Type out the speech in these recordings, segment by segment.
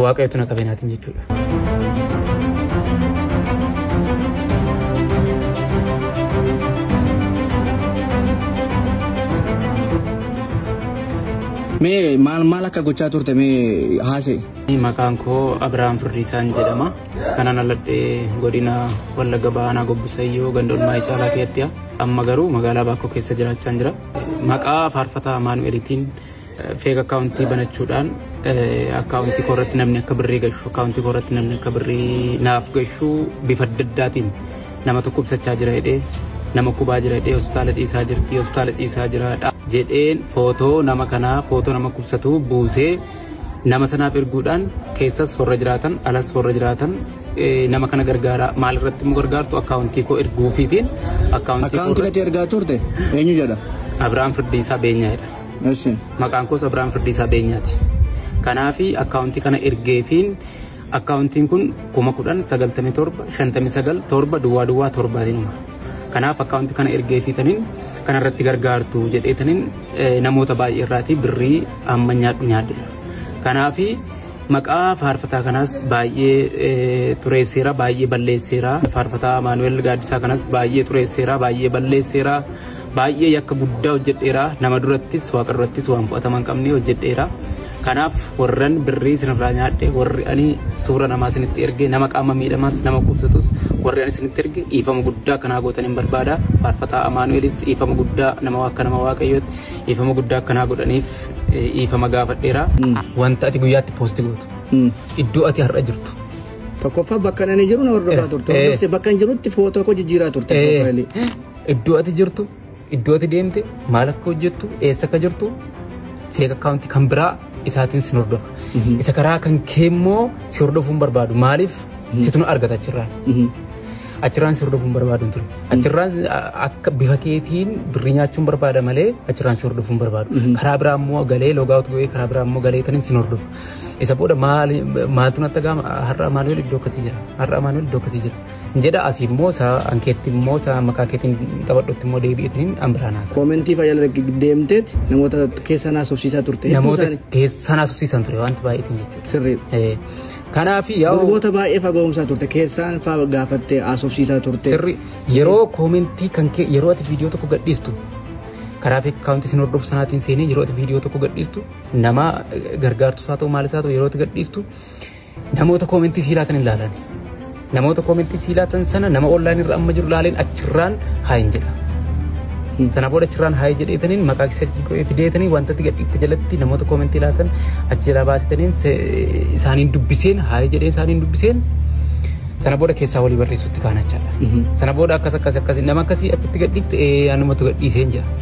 Waaqayyotu na qabee naatiin jechuudha. Mee maal maal akka gochaa turte mee haasee? Maqaan koo Abiraam Firdiisaan jedhama. Kanan aladhee godina Wallagga Baanaa Gobbisayyoo ganda Olmaayii Caalaa keessatti amma garuu magaalaa Baakkoo keessa jiraachaa jira. Maqaa faarfataa Amaanu'eliitiin feek akkaawuntii banachuudhaan akkaawuntii koo irratti namni akka birrii gashu akkaawuntii koo irratti namni akka birrii naaf gashu bifa adda addaatiin nama tokko ibsachaa jira jedhee nama kubaa jira jedhee hospitaala ciisaa jirti hospitaala ciisaa jira jedheen footoo nama kanaa footoo nama kubsatuu buusee nama sanaaf erguudhaan keessas warra jiraatan alas warra jiraatan nama kana gargaaraa maal irratti immoo gargaartu akkaawuntii koo erguufiitiin akkaawuntii koo irratti ergaa turte eenyu jedha Abiraam Firdiisaa Beenyaa jedha. Eshi. Maqaan koos Abiraam Firdiisaa Beenyaati. Kanaafi akkaawuntii kana ergeefiin akkaawuntiin kun kuma kudhan sagaltamii torba shantamii sagal torba duwwaa duwwaa torbaatiin uma. Kanaaf akkaawuntii kana ergeefii tanin kanarratti gargaartu jedhee tanin namoota baay'ee irraatii birrii amma nyaadhu nyaadhe. Kanaafi maqaa faarfataa kanaas baay'ee xureesseera baay'ee balleesseera faarfataa Amaanu'el Gaaddisaa kanas baay'ee xureesseera baay'ee balleesseera. Baay'ee yakka guddaa hojjedheera. Nama durattis waaqa durattis waan fudhatama hin qabne hojjedheera. Kanaaf warran birrii isinirraa nyaadhe warri ani suura namaa isinitti erge nama qaama miidhamaas nama kubsatus warri ani isinitti erge dhiifama guddaa kanaa gootan hin barbaada. Faarfataa Amaanu'eelis dhiifama guddaa nama akka nama waaqayyootti dhiifama guddaa akkanaa godhaniif dhiifama gaafadheera. Wanta ati guyyaatti poosti gootu iddoo ati har'a jirtu Tokkoffaa bakka ani jiru na hordofaa turte. Hordofte bakka hin jirutti footoo koo jijjiiraa turte. Eh. Profaayilii. Iddoo ati jirtu, iddoo ati deemte, maal akka hojjettu, eessa akka jirtu feek akkaawuntii kan biraa isaatiin sin hordofa. Isa karaa kan kee immoo si hordofuun barbaadu. Maaliif situ nu argata achirraan. Achirraan si hordofuun barbaadu hin ture. Achirraan a- akka bifa keetiin birrii nyaachuun barbaada malee achirraan si hordofuun barbaadu. Karaa biraa immoo galee logaawut go'ee karaa biraa immoo galee tanin sin hordofa. Isa booda maal maaltu natti ga'ama har'a Amaanu'el iddoo akkasii jira. Har'a Amaanu'el iddoo akkasii jira. jedha asi immoo isaa ankeetti immoo isaa maqaa keetiin taphadhutti immoo deebi'eetiin an biraan haasa. Koomentii fayyaa irra deemteet namoota keessa naa sobsiisaa turte. Namoota keessa naa sobsiisan ture wanti baay'eetiin jechuudha. Sirriidha. Kanaaf yaa'u. Namoota baay'ee faga'umsaa turte keessaan faa gaafattee haasofsiisaa turte. Sirri yeroo koomentii kan kee yeroo ati viidiyoo tokko gadhiistu karaa fi akkaawuntii isin hordofu sanaatiin seenee yeroo ati viidiyoo tokko gadhiistu nama gargaartu isaa ta'u maal isaa ta'u yeroo ati gadhiistu Namoota koomentii sii laatan hin laalan. Namoota koomentii sii laatan sana nama online irra amma jiru laaleen achirraan haa hin jedha. Sana booda achirraan haa hin jedheetaniin maqaa kisarkii qo'ee fideetanii wanta itti gadhiifte jalatti namoota koomentii laatan achi jalaa baasitaniin isaaniin dubbiseen haa hin jedheen isaaniin dubbiseen sana booda keessaa walii barreessutti kaanachaadha. Sana booda akkas akkas akkas nama akkasii achitti gadhiiste anumatu gadhiiseen jira.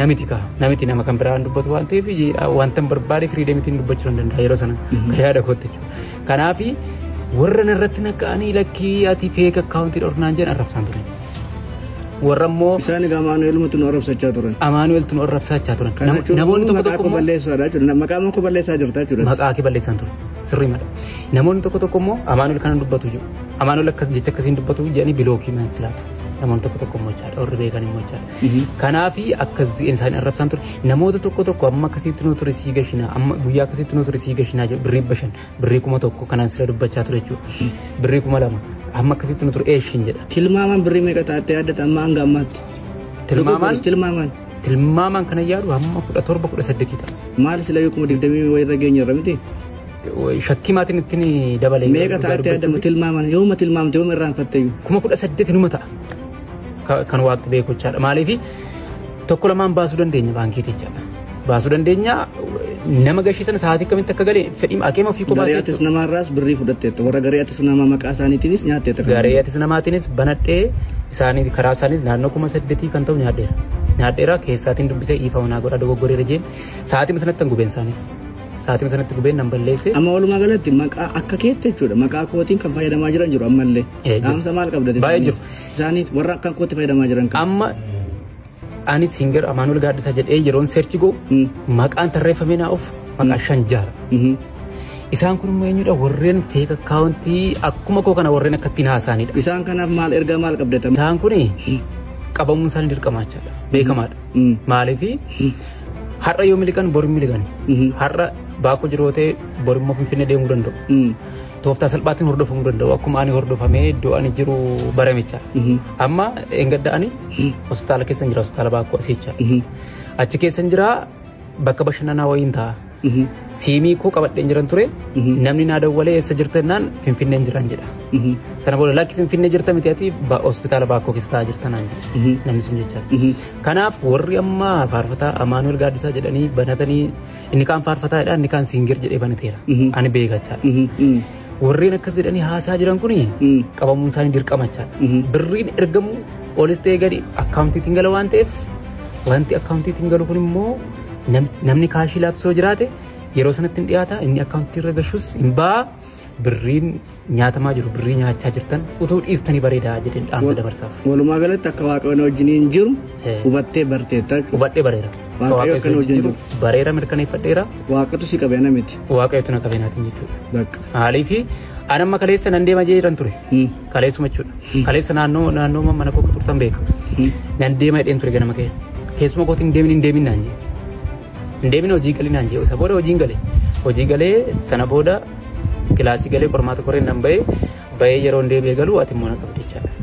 namiti ka namiti nama kan biraan dubbatu waan ta'eef wanta hin barbaade firiidemitiin dubbachuu hin danda'a yeroo sana ka yaada kootti jechuudha. Kanaaf warra narratti naqqa'anii lakkii ati feek akkaawuntii dhornaan jedhan arrabsaan turan. Warra immoo Isaan egaa Amaanu'eelumatti nu arrabsachaa turan. Amaanu'eeltu nu arrabsachaa turan. Kana Nam- jechuun Namoonni tokko maqaa tokko koo immoo balleessuudha jechuudha. Maqaa koo balleessaa jirta jechuudha. maqaa kee balleessaan ture sirrii mala namoonni tokko tokko immoo amaanuel kana dubbatu jiru amaanuel akkas jecha akkasiin dubbatu jedhanii bilookii manatti laatu namoonni tokko tokko immoo jechaadha warri beekan immoo jechaadha Kanaafi akka zi'een isaanii arrabsaan ture namoota tokko tokko amma akkasitti nuu ture sii gashinaa amma guyyaa akkasitti nuu ture sii gashinaa jedhu birrii bashan birrii kuma tokko kanaan sira dubbachaa ture jechuudha birrii kuma lama amma akkasitti nuu ture eeshin jedha Tilmaamaan birrii meeqa taatee addata amma hanga ammaatti? tilmaamaan Tilmaamaan. tilmaamaan kana yaadu hamma kudha torba kudha saddeetii ta'a. Maal sila beekuma digdamii wayirra geenye irra miti? Shakkii maatiin ittiin dabalee. Meeqa taatee addama tilmaamaan yooma tilmaamte yooma irraanfatte iyyuu? Kuma kudha saddeeti numa ta'a. kan waaqti beeku jechaadha. Maaliif tokko lamaan baasuu dandeenya baankiiti jechaadha. Baasuu dandeenya nama gashii sana sa'aatii akkamitti akka galee fedhii akeema ofii kophaa Garee atis namaarraas birrii fudhatteetta. Warra garee atis namaa maqaa isaaniitiinis nyaatteetta. kan Garee atis namaatiinis banadhee isaanii karaa isaaniis naannoo kuma saddeetii kan ta'u nyaadheera. Nyaadheera keessaatiin dubbisee ifa manaa godha dogoggoree rajeen sa'aatii sanatti kan gubeen isaaniis. Sa'aatii sanatti gubeen nan balleessee. Amma walumaa galatti maqaa akka keetti jechuudha. Maqaa kootiin kan fayyadamaa jiran jiru ammallee. Eh, jiru. Dhaamsa maal qabda? Baay'ee jiru. isaanii warra akka kootti fayyadamaa jiran kan. Amma ani singer Amaanuel Gaaddisaa jedhee yeroon seerchi goo Mm. maqaan tarreeffamee naa of maqaa shan jaara. Mhm. Isaan kun immoo eenyudha warreen feek akkaawuntii akkuma koo kana warreen akkattiin haasaanidha. Isaan kanaaf maal ergaa maal qabdata? Isaan kun qabamuun isaanii dirqamaachaadha beekamaadha. Mm. Maaliif har'a yoo miliqan bor hin miliqan. Mhm. Har'a baakoo jirootee bor immoo finfinnee deemuu danda'u. Mm. Tooftaa salphaatiin hordofuu hin danda'u. Akkuma ani hordofamee iddoo ani jiru baramicha. Amma engadda ani hospitaala keessa jira hospitaala baakkoo asiicha. Achi keessa jira bakka bashannanaa wayiin ta'a. Siimii koo qabadheen jiran ture namni naa dawwalee eessa jirta jennaan finfinneen jiran jedha. Sana booda lakki finfinnee jirta miti ati ba- hospitaala baakkoo keessa taa'aa jirta naan jedha namni sun jecha. Kanaaf warri amma faarfataa Amaanuel Gaaddisaa jedhanii banatanii Inni kaan faarfataa jedha, inni kaan singer jedhee banateera. Mhm. Ani beekachaa. Mhm, mhm, Warreen akkas jedhanii haasaa jiran kuni mhm. qabamuun isaanii dirqamachaa. Mhm. Birriin ergamu olis ta'ee gadi akkaawuntiitiin gala waan ta'eef wanti akkaawuntiitiin galu kun immoo nam- namni kaashii laatu yoo jiraate yeroo sanatti hin dhiyaata inni akkaawuntii irra gashus hin ba'a birriin nyaatamaa jiru birrii nyaachaa jirtan utuu dhiistanii bareedaa jedheen dhaamsa dabarsaaf. Walumaa galatti akka waaqayyoon wajjiniin jiru Eh. hubattee barteetta. Hubadhee bareera. Waaqayyo Waaqayyo akkana isin wajjin jiru jiru. Bareera mirkaneeffadheera. Waaqatu si qabe ana miti. Waaqayyotu na qabeenaatiin jechuudha. Bakka. Maaliif an amma kaleessa nan deema jedhan ture. Hmm. Kaleessuma jechuudha. Kaleessa naannoo naannoo mana koo akka turtan beeka. Hmm. Nan deema jedheen ture ganama kee. Keessuma kootiin deemin hin deemin naan jedhe. hin deemine hojii galii naan jedhe isa booda hojiin gale hojii galee sana booda kilaasii galee qormaata qoreen nan ba'e ba'ee yeroo hin deebi'e galuu ati immoo na qabde jechaadha.